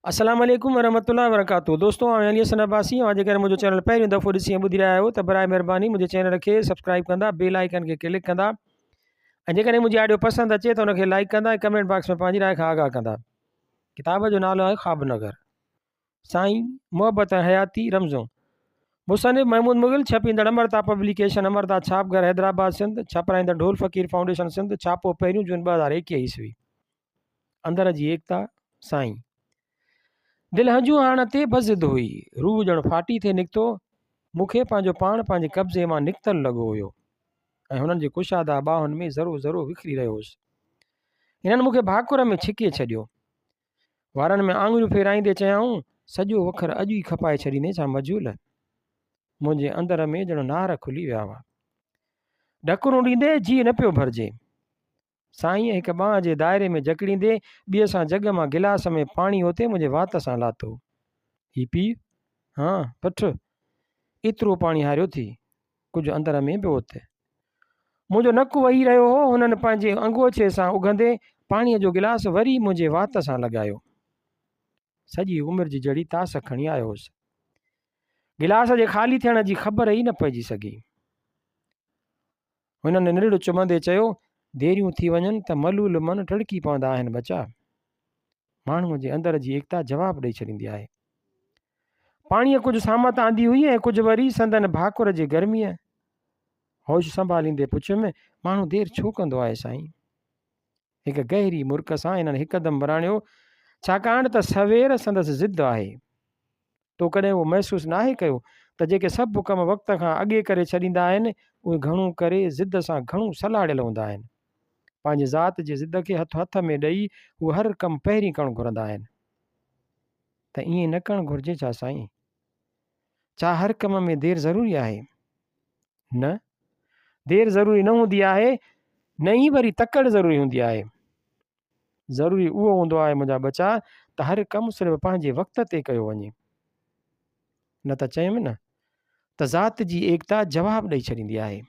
السلام عليڪم ورحمة الله وبرڪاته دوستو آء علي حسن عباسي اوهان جيڪڏهن منهنجو چينل پهريون دفعو ڏسي ۽ ٻڌي رهيا آهيو ته برائي مهرباني منهنجي چينل کي سبسڪرائب ڪندا بيل آئيڪن کي ڪلڪ ڪندا ۽ جيڪڏهن منهنجي آڊيو پسند اچي ته ان کي لائڪ ڪندا ۽ ڪمينٽ باڪس ۾ پنهنجي راء کان آگاهه ڪندا ڪتاب جو نالو آهي خواب نگر سائين محبت ۽ حياتي رمزون مصنف محمود مغل ڇپيندڙ امرتا پبليڪيشن امرتا ڇاپگهر حيدرآباد سنڌ ڇپرائيندڙ ڍول فقير فائونڊيشن سنڌ ڇاپو پهريون جون ٻه هزار ايڪيهه عيسوي اندر جي ايڪتا سائين دل هنجون هاڻ تي به ضد هئي روح ڄڻ ڦاٽي ٿي نڪتو مون کي پنهنجو پاڻ پنهنجي قبضي مان نڪتل لڳو هيو ۽ هنن جي ڪشادا ٻاهن ۾ ذرو ذرو وکري رهيو هوس هنن مون کي ڀاڪر ۾ ڇڪي ڇڏيو وارن ۾ آڱريون ڦيرائيندي چيائون سڄو وکر اڄ ئي کپائي ڇڏيندي ڇا مجهول منهنجي اندر ۾ ڄڻ نار کلي ويا هئا ڍڪرون ڏيندي جي نه پيو ڀرجي سائينء هڪ ٻانهن جي دائري ۾ جڪڙيندي ٻيء سان جڳ مان گلاس ۾ پاڻي اوتي منهنجي وات سان لاتو. هي پي. ها پٺ. ايترو پاڻي هاريو ٿي. ڪجهه اندر ۾ به اوت. منهنجو نڪ وهي رهيو هو. هنن پنهنجي انگوڇي سان اگهندي پاڻيء جو گلاس وري منهنجي وات سان لڳايو. سڄي عمر جي جهڙي تاس کڻي آيو هوس. گلاس جي خالي ٿيڻ جي خبر ئي نه پئجي سگهي. هن ننڙ چمندي چيو، ديريون ٿي وڃن ته ملول من ٽڙڪي پوندا آهن ٻچا. ماڻهوء جي اندر جي ايڪتا جواب ڏئي ڇڏيندي آهي. پاڻيء ڪجهه سامت آندي هئي ۽ ڪجهه وري سندن ڀاڪر جي گرميء. هوش سنڀاليندي پڇيم، ماڻهو دير ڇو ڪندو آهي سائين؟ هڪ گهري مرڪ سان هنن هڪدم وراڻيو، ڇاڪاڻ ته سوير سندس ضد آهي. تو ڪڏهن اهو محسوس ناهي ڪيو ته جيڪي سڀ ڪم وقت کان اڳي ڪري ڇڏيندا آهن، اهي گهڻو ڪري ضد سان گهڻو سلهاڙيل هوندا آهن. پنهنجي ذات جي ضد کي هٿ هٿ ۾ ڏئي هو هر ڪم پهرين ڪرڻ گهرندا آهن. ته ائين نه ڪرڻ گهرجي ڇا سائين؟ ڇا هر ڪم ۾ دير ضروري آهي؟ نه، دير ضروري نه هوندي آهي، نه ئي وري تڪڙ ضروري هوندي آهي. ضروري اهو هوندو آهي منهنجا ٻچا ته هر ڪم صرف پنهنجي وقت تي ڪيو وڃي. نه ته چيم نه ته ذات جي ايڪتا جواب ڏئي ڇڏيندي آهي.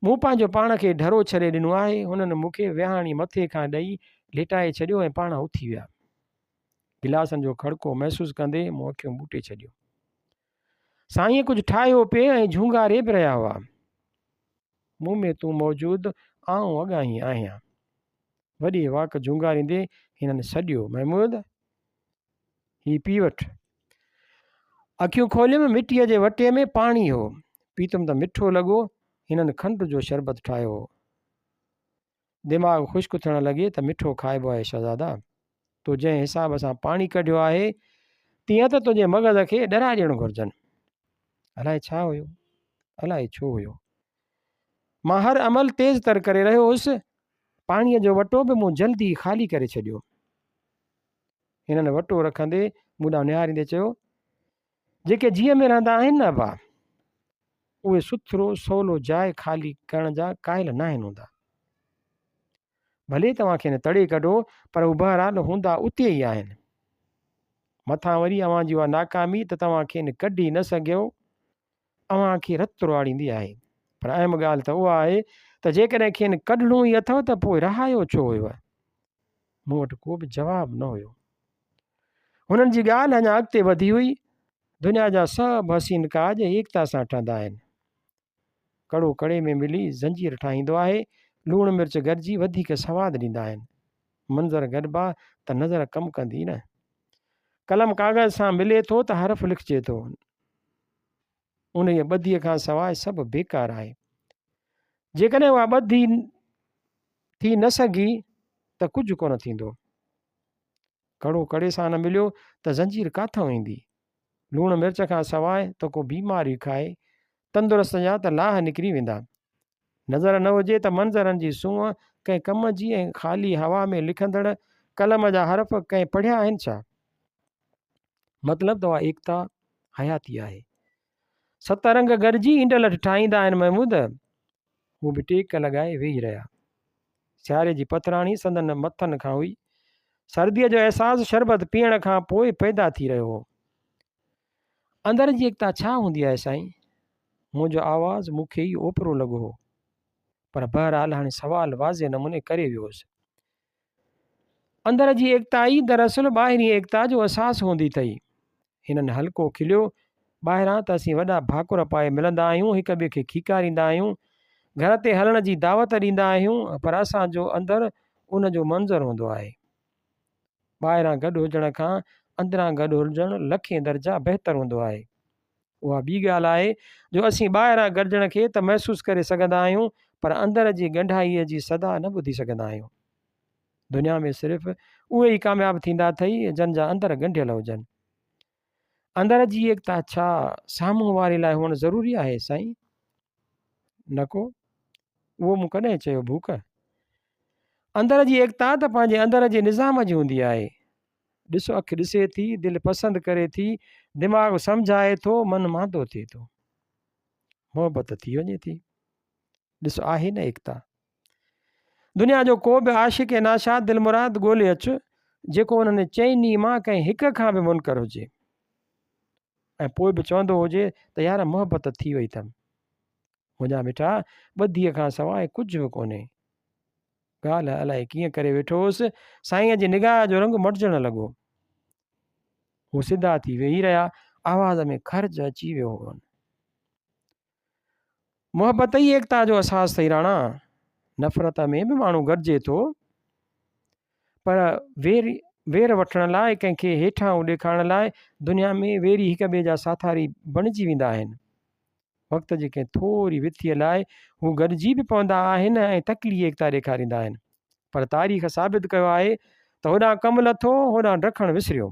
مون پنهنجو پاڻ کي ڍرو ڇڏي ڏنو آهي، هنن مون کي ويهاڻي مٿي کان ڏئي ليٽائي ڇڏيو ۽ پاڻ اٿي ويا. گلاسن جو کڙڪو محسوس ڪندي مون اکيون ٻوٽي ڇڏيون. سائين ڪجهه ٺاهيو پئي ۽ جهونگاري به رهيا هئا. مون ۾ تون موجود، آئون اڳاهين آهيان. وڏي واڪ جهونگاريندي هنن سڏيو، محمود! هي پي وٺ. اکيون کوليم، مٽيء جي وٽي ۾ پاڻي هو. پيتم ته مٺو لڳو، هنن کنڊ جو شربت ٺاهيو هو. دماغ خشڪ ٿيڻ لڳي ته مٺو کائبو آهي شهزادا. تو جنهن حساب سان پاڻي ڪڍيو آهي تيئن ته تنهنجي مغز کي ڏرا ڏيڻ گهرجن. الائي ڇا هيو؟ الائي ڇو هيو؟ مان هر عمل تيز تر ڪري رهيو هوس. پاڻيء جو وٽو به مون جلدي خالي ڪري ڇڏيو. هنن وٽو رکندي مون ڏانهن نهاريندي چيو، جيڪي جيء ۾ رهندا آهن نه ابا، اهي سٿرو سولو جاء خالي ڪرڻ جا قائل ناهن هوندا. ڀلي توهان کين تڙي ڪڍو پر هو بهرحال هوندا اتي ئي آهن. مٿان وري اوهان جي اها ناڪامي ته توهان کين ڪڍي نه سگهيو اوهان کي رت رئاڙيندي آهي. پر اهم ڳالهه ته اها آهي ته جيڪڏهن کين ڪڍڻو ئي اٿو ته پوء رهايو ڇو هيو؟ مون وٽ ڪو به جواب نه هيو. هنن جي ڳالهه اڃا اڳتي وڌي هئي، دنيا جا سڀ حسين ڪاڄ ايڪتا سان ٺهندا آهن. ڪڙو ڪڙي ۾ ملي زنجير ٺاهيندو آهي، لوڻ مرچ گڏجي وڌيڪ سواد ڏيندا آهن. منظر گڏبا ته نظر ڪم ڪندي نه. قلم ڪاغذ سان ملي ٿو ته حرف لکجي ٿو. انهيء ٻڌيء کان سواء سڀ بيڪار آهي. جيڪڏهن اها ٻڌي ٿي نه سگهي ته ڪجهه ڪونه ٿيندو. ڪڙو ڪڙي سان نه مليو ته زنجير ڪاٿئون ايندي. لوڻ مرچ کان سواء ته ڪو بيمار ئي کائي تندرست جا ته لاهه نڪري ويندا. نظر نه هجي ته منظرن جي سونهن ڪنهن ڪم جي ۽ خالي هوا ۾ لکندڙ قلم جا حرف ڪنهن پڙهيا آهن ڇا؟ مطلب ته اها ايڪتا حياتي آهي. ست رنگ گڏجي انڊلٺ ٺاهيندا آهن محمود. هو به ٽيڪ لڳائي ويهي رهيا. سياري جي پٿراڻي سندن مٿن کان هئي. سرديء جو احساس شربت پيئڻ کان پوء پيدا ٿي رهيو هو. اندر جي ايڪتا ڇا هوندي آهي سائين؟ منهنجو آواز مون کي ئي اوپرو لڳو هو. پر بهرحال هاڻي سوال واضح نموني ڪري ويو هوس. اندر جي ايڪتا ئي دراصل ٻاهرين ايڪتا جو احساس هوندي اٿئي. هنن هلڪو کليو، ٻاهران ته اسين وڏا ڀاڪر پائي ملندا آهيون، هڪ ٻئي کي کيڪاريندا آهيون، گهر تي هلڻ جي دعوت ڏيندا آهيون، پر اسان جو اندر ان جو منظر هوندو آهي. ٻاهران گڏ هجڻ کان اندران گڏ هجڻ لکين درجا بهتر هوندو آهي. اها ٻي ڳالهه آهي جو اسين ٻاهران گڏجڻ کي ته محسوس ڪري سگهندا آهيون پر اندر جي ڳنڍائيء جي صدا نه ٻڌي سگهندا آهيون. دنيا ۾ صرف اهي ئي ڪامياب ٿيندا اٿئي جن جا اندر ڳنڍيل هجن. اندر جي ايڪتا ڇا سامهون واري لاء هئڻ ضروري آهي سائين؟ نڪو اهو مون ڪڏهن چيو ڀوڪ اندر جي ايڪتا ته پنهنجي اندر جي نظام جي هوندي آهي ڏس اک ڏسي ٿي دل پسند ڪري ٿي دماغ سمجھائي ٿو من ماندو ٿئي ٿو محبت ٿي وڃي ٿي ڏس آهي نه ايڪتا دنيا جو ڪو به عاشق ناشاد دلمراد ڳولي اچ جيڪو انهن چئني مان ڪنهن هڪ کان به منڪر هجي ۽ پوء به چوندو هجي ته يار محبت ٿي وئي اٿم منهنجا مٺا ٻڌيء کان سواء ڪجهه به ڪونهي ڳالهه الائي ڪيئن ڪري ويٺو هوس سائينء جي نگاهه جو رنگ مٽجڻ لڳو هو سڌا ٿي ويهي رهيا آواز ۾ خرچ اچي ويو هو محبت ئي ايڪتا جو اساس اٿئي راڻا نفرت ۾ به ماڻهو گڏجي ٿو پر وير وير وٺڻ لاء ڪنهن کي هيٺاهون ڏيکارڻ لاء دنيا ۾ ويري هڪ ٻئي جا ساٿاري بڻجي ويندا آهن وقت جي ڪنهن ٿوري وٿيء لاء هو گڏجي به پوندا آهن ۽ تڪلي ايڪتا ڏيکاريندا آهن پر تاريخ ثابت ڪيو آهي ته هوڏانهن ڪم لٿو هوڏانهن ڊکڻ وسريو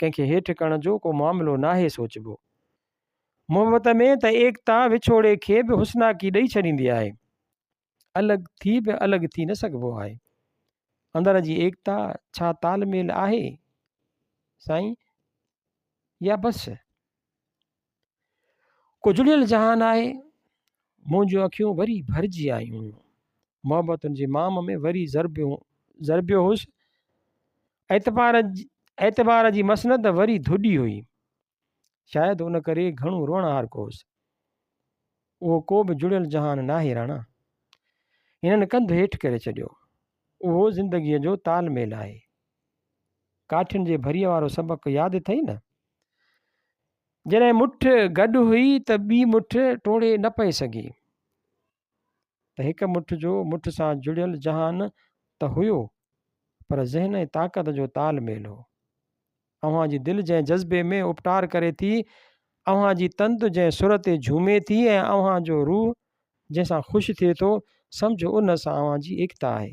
ڪنهن کي هيٺ ڪرڻ جو ڪو معاملو ناهي سوچبو. محبت ۾ ته ايڪتا وڇوڙي کي به حسناڪي ڏئي ڇڏيندي آهي. الڳ ٿي به الڳ ٿي نه سگهبو آهي. اندر جي ايڪتا ڇا تال ميل آهي سائين يا بس ڪجڙيل جهان آهي، مون جون اکيون وري ڀرجي آيون هيون. محبتن جي مام ۾ وري ضربيون ضربيو هوس. اعتبار اعتبار جي مسند وري ڌوڏي هئي. شايد ان ڪري گهڻو روئڻهارڪ هوس. اهو ڪو به جڙيل جهان ناهي راڻا. هنن ڪنڌ هيٺ ڪري ڇڏيو. اهو زندگيء جو تال ميل آهي. ڪاٺين جي ڀريء وارو سبق ياد اٿئي نه؟ جڏهن مٺ گڏ هئي ته ٻي مٺ ٽوڙي نه پئي سگهي ته هڪ مٺ جو مٺ سان جڙيل جهان ته هيو پر ذهن ۽ طاقت جو تال ميل هو اوهان جي دل جنهن جذبي ۾ اپٽار ڪري ٿي اوهان جي تند جنهن سر تي جهومي ٿي ۽ اوهان جو روح جنهن سان خوش ٿئي ٿو سمجهو ان سان اوهان جي ايڪتا آهي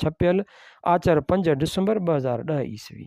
ڇپيل آچر پنج ڊسمبر ٻه هزار ڏهه عيسوي.